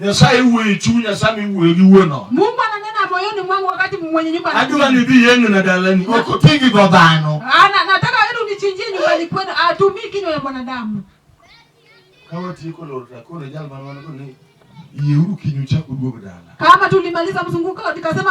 Nyasaye wuoyo e chunya sama iwuoyo gi wuon ot. Mungu ananena moyoni mwangu wakati mwenye nyumba anapita. Adwa ni dhi yeng'o na dalani. Ok oti gi dho dhano. Ana nataka wewe unichinjie nyumbani kwenu. Atumii kinywa ya mwanadamu. Kama tiko lor ta kore jal man wan ni yieuru kinyu chako duog dala. Kama tulimaliza mzunguko tukasema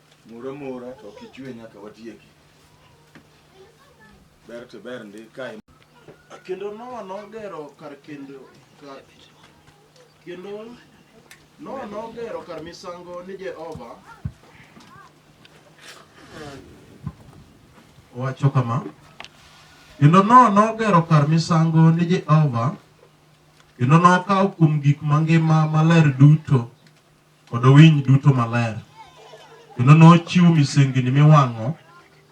Moro mora to ok ichwe nyaka watieki. Ber to ber ndi kae. Kendo Nowa nogero kar kendo kar kendo Nowa nogero kar misango ni Jehova. Wacho kama. Kendo Nowa nogero kar misango ni Jehova kendo nokawo kuom gik mangima maler duto kod winy duto maler, kendo nochiw misengini miwang'o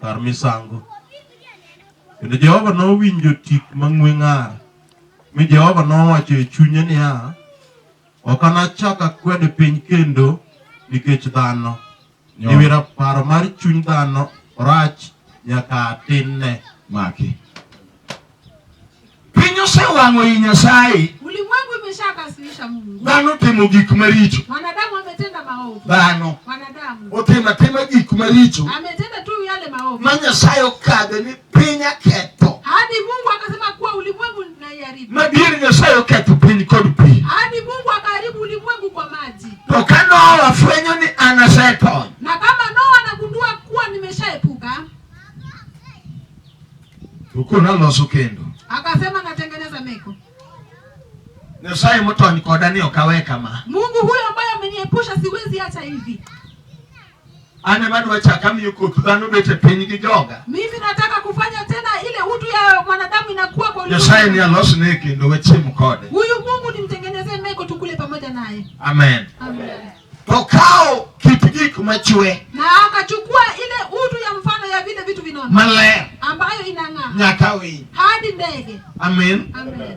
kar misango. Kendo Jehova nowinjo tik mang'we ng'ar, mi Jehova nowacho e chunye niya, Ok anachak akwed piny kendo nikech dhano, Nyawera paro mar chuny dhano rach nyaka tinne maki. Piny osewang'o i Nyasaye. Ulimwengu imeshakasirisha Mungu. Dhano timo gik maricho. Wanadamu wametenda maovu. Dhano. Wanadamu. Otenda tema gik maricho. Ametenda tu yale maovu. Ma Nyasaye okadhe ni piny aketho. Hadi Mungu akasema kuwa ulimwengu madier Nyasaye oketho piny kod pi. Hadi Mungu akaharibu ulimwengu kwa maji. To ka Noa afwenyo ni an asetony. Na kama Noa anagundua kuwa nimeshaepuka. Uko naloso kendo. Akasema natengeneza meko. Nyasaye motony koda ni okaweka ma. Mungu huyo ambaye ameniepusha siwezi acha hivi. An ema adwa chaka miyo koth dhano bet e piny gi joga. Mimi nataka kufanya tena ile utu ya mwanadamu inakuwa kwa ulimwengu. Nyasaye ni alosne kendo wachiem kode. Huyu Mungu nimtengenezee meko tukule pamoja naye. Amen. Amen. To kao kit gik machwe. Na akachukua ile utu ya mfano ya vile vitu vinono. Maler. Ambayo inang'aa. Nyaka winy. Hadi ndege. Amen. Amen.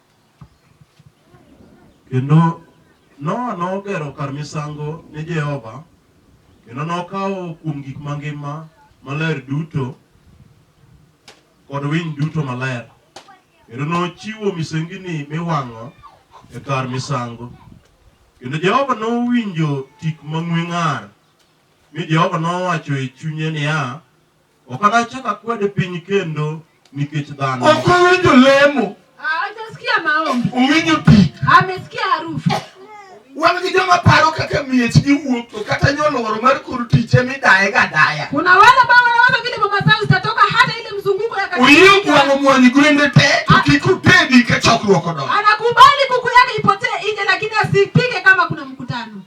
Kendo Noa nogero kar misango ne Jehova, kendo nokawo kuom gik mangima maler duto kod winy duto maler, kendo nochiwo misengini miwang'o e kar misango. Kendo Jehova nowinjo tik mang'we ng'ar, mi Jehova nowacho e chunye niya, Ok anachak akwed piny kendo nikech dhano. Ok owinjo lemo. Hajasikia maombi. Owinjo tik. Amesikia harufu. Wan gi joma paro kaka miech gi wuok to kata nyoluoro mar kuru tich emi daye ga daya. Kuna wale ambao wanawaza vile mama zao zitatoka hata ile mzunguko ya kanisa. Uyiyo kwangu mwani gwende te to kik utedi ka chokruok odongo. Anakubali kuku yake ipotee nje lakini asipige kama kuna mkutano.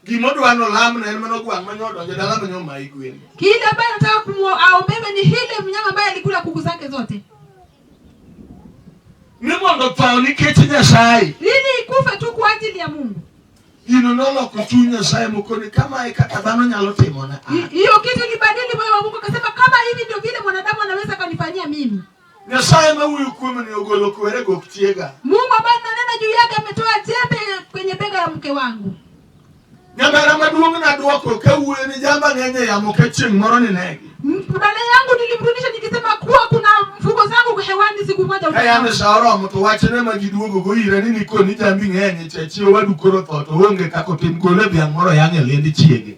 Gima odwa ni olamne en mano gwang' manyo odonjo e dala manyo mai gwen. Kile ambaye anataka kumwombebe ni hile mnyama ambaye alikula kuku zake zote. Ni mondo tho nikech Nyasaye. Ili ikufe tu kwa ajili ya Mungu. Gino noloko chuny Nyasaye moko ni kama e kaka dhano nyalo timona. Hiyo kitu ilibadili moyo wa Mungu akasema kama hivi ndio vile mwanadamu anaweza kanifanyia mimi. Nyasaye ma wuoyo kuomni ogolo kwere gok tiega. Mungu ambaye nanena juu yake ametoa jembe kwenye bega ya mke wangu. Nyamera maduong' nadwoko kawuoyo ni jamba ng'enye yamo ka chieng' moro ninegi. Mbale yangu nilimrudisha nikisema kuwa kuna mfuko zangu hewani siku moja. Kayane saoro mtu wachene majiduogo go ira ni niko ni jambi ng'enye chachi wadu koro toto onge kako tim gole bya moro yang'e lendi chiege.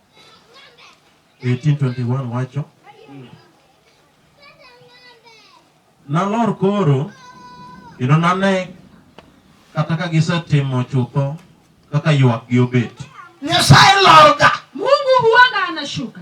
1821 wacho nalor koro kendo nane kata ka gisetimo chutho kaka ywakgi obet nyasaye lorga mungu huanga anashuka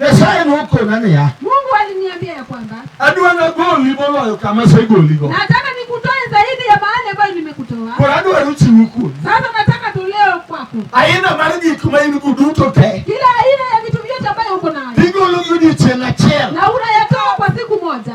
Nyasaye nokona niya, Mungu aliniambia ya kwamba adwa nagoli moloyo kama asegoligo. Nataka nikutoe zaidi ya mahali ambayo nimekutoa. Koro adwaro chiwo kuomi. Sasa nataka toleo kwako. Aina mar gik ma in go duto te. Kila aina ya vitu vyote ambayo uko nayo. Igologi odiechieng' achiel. Na unayatoa kwa siku moja.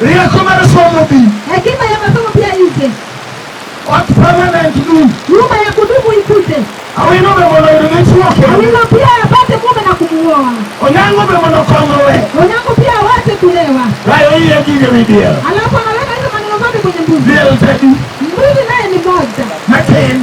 Rieko mar somo bi. Hekima ya masomo pia ije. What permanent do? Nyumba ya kudumu ikuje. Awino be mondo oyud dichwo kendo. Awino pia apate mume na kumuoa. Onyango be mondo okongowe. Onyango pia awache kulewa. Rayo iye gige midiel. Alafu anaweka hizo maneno zote kwenye mbuzi. Diel tadi. Mbuzi naye ni moja. Matin.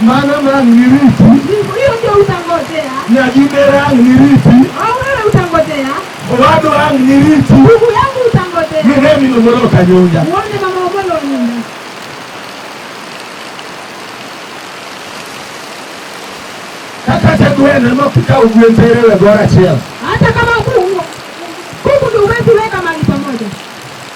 Mano nang' niriti. Mungu hiyo ndio utangojea. Nyagibera ang' niriti. Au wewe utangojea. Owadu ang' niriti. Mungu yangu utangojea. Miremi no moro kanyonja. Uone mama obolo nyumba. Kaka te gweno no kika ugwen tere we gora chiel. Hata kama kuku kuku ndio uwezi weka mahali pamoja.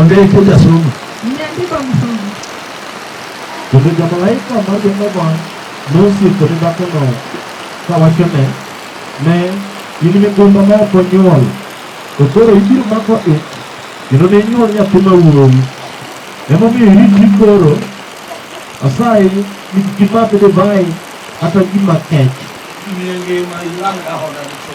Ongea kuja soma. Nimeandika msomo. Kuja jamalaika mmoja mmoja nusi kutoka kono kwa washone ne yini migomba ma ko nyuol. Okoro ibiro mako e kendo ne nyuol nyathi ma wuowi. Emomiyo iritri koro asayi ni gimadh divai kata gima kech. Miyo ngima ilang dahona duto.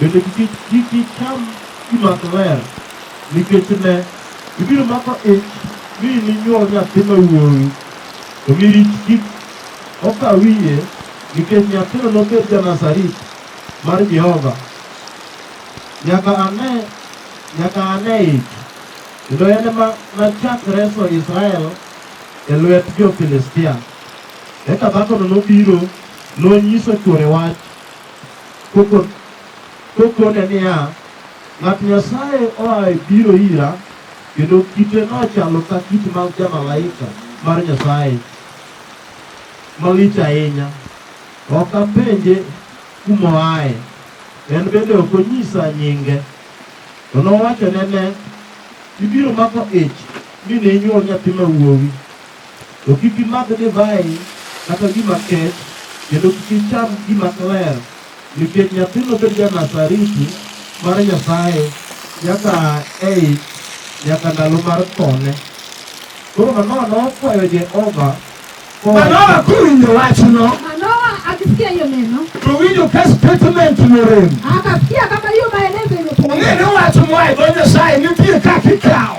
Bende kik icham gima ok ler, nikech ne, ibiro mako ich mi ininywol nyathi ma wuowi, to mi rich kik oka wiye, nikech nyathino nobed ja-Nazari mar Jehova nyaka ane nyaka ane ich, kendo en ema nachak reso Israel e lwet jo-Filistia. Eka dhakono nobiro, nonyiso chwore wach, kokone niya, Ng'at Nyasaye oa e biro ira, kendo kite nochalo ka kit mag jamalaika mar Nyasaye malich ahinya. Ok apenje kuma oaye, en bende ok onyisa nyinge. To nowachone, Ne, ibiro mako ich mi ne inywol nyathi ma wuowi, To kik imadh divai kata gima kech, kendo kik icham gima kler, nikech nyathino bed ja-Nazariti mar Nyasaye nyaka aa e ich nyaka ndalo mar thone. Koro Manoa nokwayo Jehova kowacho, Manoa kowinjo wachno, Manoa akisikia hiyo neno, to winjo ka statement norem. akasikia kama hiyo maelezo Ong'e imepungua. ni wach moa e dho Nyasaye nitie kaka ikawo.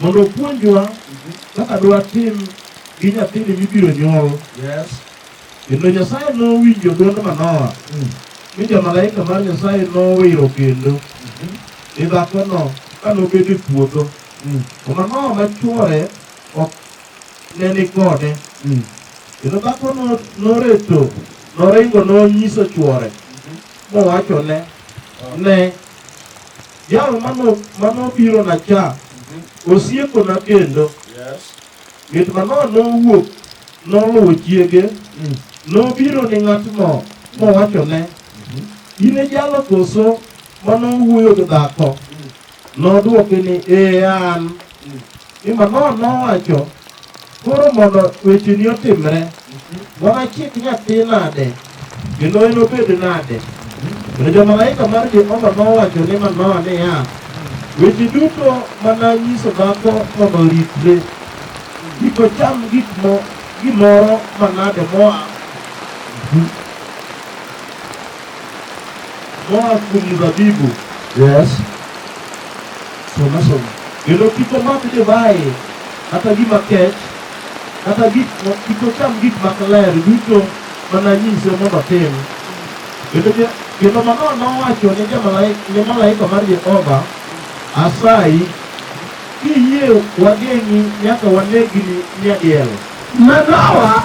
mondo opuonjwa kaka dwatim gi nyathini mibiro nyuol. Yes. Kendo Nyasaye nowinjo dwond Manoa mm. mi jomalaika mar Nyasaye nowiro kendo mm-hmm. ni dhakono ka nobedo e puodho. Mm. To Manoa ma chwore ok ne ni kode. Mm. Kendo dhako noreto noringo nonyiso chwore mm-hmm. mowachone ne Jal mano mano biro na cha osieko na kendo. Yes. Mit mano nowuok noluwo chiege nobiro ni ng'atno mowachone in e jalo koso mano wuoyo gi dhako nodwoke ni ee an Imanol nowacho, koro mondo wecheni otimre, wanachik nyathi nade, kendo enobed nade? Kendo jomalaika mar Jehova nowacho ni Manoa niya, weche duto mana nyiso dhako mondo oritre, kik ocham gik mo gimoro manade moa Moa kuom mzabibu. Yes. Soma soma. Kendo kik omak divai kata gima kech kata gik kik ocham gik mak ler duto mana nyise mondo otim. Kendo kendo Manoa nowacho ne jamalaika ne malaika mar Jehova, asayi kiyie wageng'i nyaka wanegni nyadiel. Manoa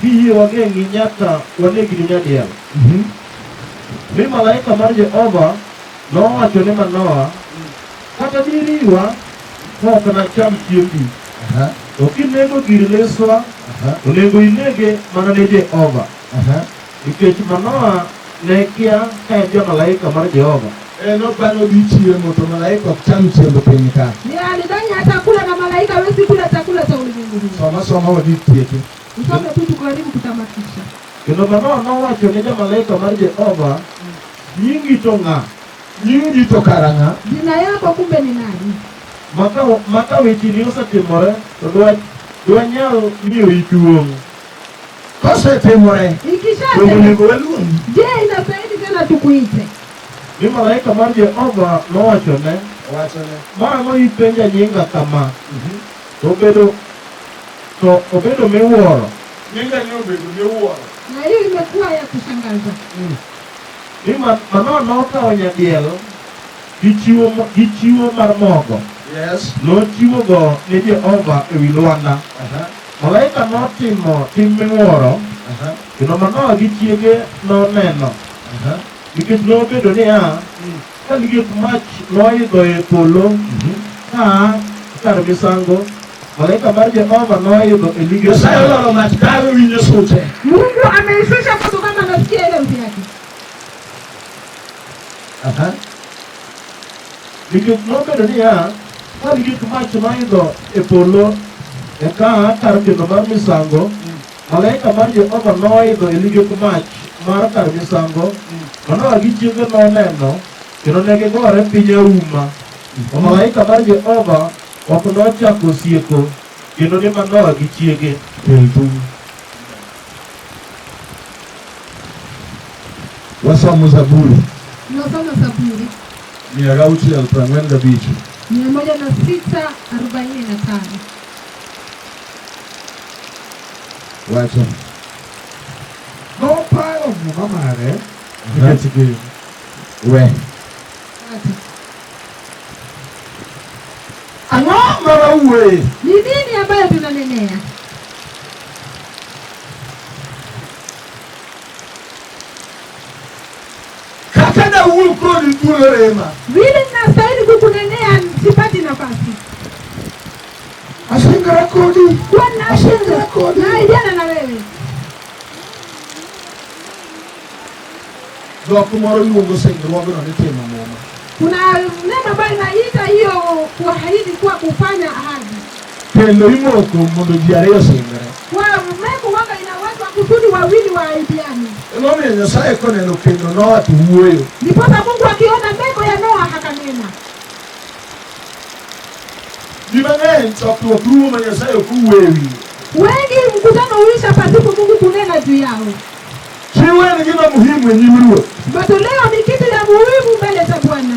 Kiyie wageng'i nyaka wanegni nyadiel. Mhm. Mi malaika mar Jehova nowacho ne Manoa, kata diriwa ok nacham chiembi, to kinego gir leswa, onego inege mana ne Jehova. Nikech Manoa ne kia ka en ja malaika mar Jehova. E, nopano dhi chiemo to malaika ok cham chiemb piny ka. Ni alidhani hata kula na malaika hawezi kula chakula cha ulimwengu huu. Soma soma wadhi tieke. Usome tu tukaribu kutamatisha. Kendo Manoa nowacho ne ja malaika mar Jehova, nyingi to ng'a? Nyingi to karang'a? Jina yako kumbe ni nani? Maka maka wechini osetimore to dwa dwanyal miyo iduong'. Kosetimore, donge onego waluongi? Je, inastahili tena tukuite? Mi malaika mar Jehova nowachone, mara noipenja nyinga kama, mhm. to obedo to obedo miwuoro. Nyinga ni obedo miwuoro. Na hiyo imekuwa ya kushangaza. Mm. Ni Manoa nokawo nyadiel gi chiwo gi chiwo mar mogo. Yes. Nochiwogo ne Jehova ewi lwanda. Uh -huh. Malaika notimo tim miwuoro, kendo Manoa gi chiege noneno, nikech nobedo niya, ka liet mach noidho e polo ka a kar misango, malaika mar Jehova noidho e lige Nyasaye polo. oloro mach kawe winyo sute. Mungu ameishusha moto kama nasikia ile sauti yake. Aha. Nikech nobedo niya, Ka ligek mach maidho e polo, eka kar kendo mar misango, malaika mar Jehova noidho e ligek mach mar kar misango, Manoa gi chiege noneno, kendo ne gigore piny auma. To malaika mar Jehova ok nochako osieko kendo ni Manoa gi chiege. Wasomo Zaburi. Tunasoma Zaburi. Mia gauchiel prang'wen gabich. Mia moja na sita arobaini na tano. Wacho. Noparo muma mare nikech gin. We. Ang'o ma wawuoye? Ni nini ambayo tunanenea? Kakana uru kodi thuolo rema. Vile nastahili kukunenea sipati nafasi. Asingara kodi. Kwa na asingara kodi. Na ijana na wewe. Dhok moro luongo singruogno ni timo muma. Kuna neno ambayo inaita hiyo kuahidi kuwa kufanya ahadi. Kendo imoko mondo ji ariyo osingre. Emomiyo Nyasaye koneno kendo Noa to wuoyo. Ndiposa Mungu akiona meko ya Noa akanena. Ji mang'eny chokruok rumo ma Nyasaye ok owuoyo e wiye. Wengi mkutano huisha pasipo Mungu kunena juu yao. Chiwo en gima muhimu e nyim Ruoth. Matoleo ni kitu ya muhimu mbele za Bwana.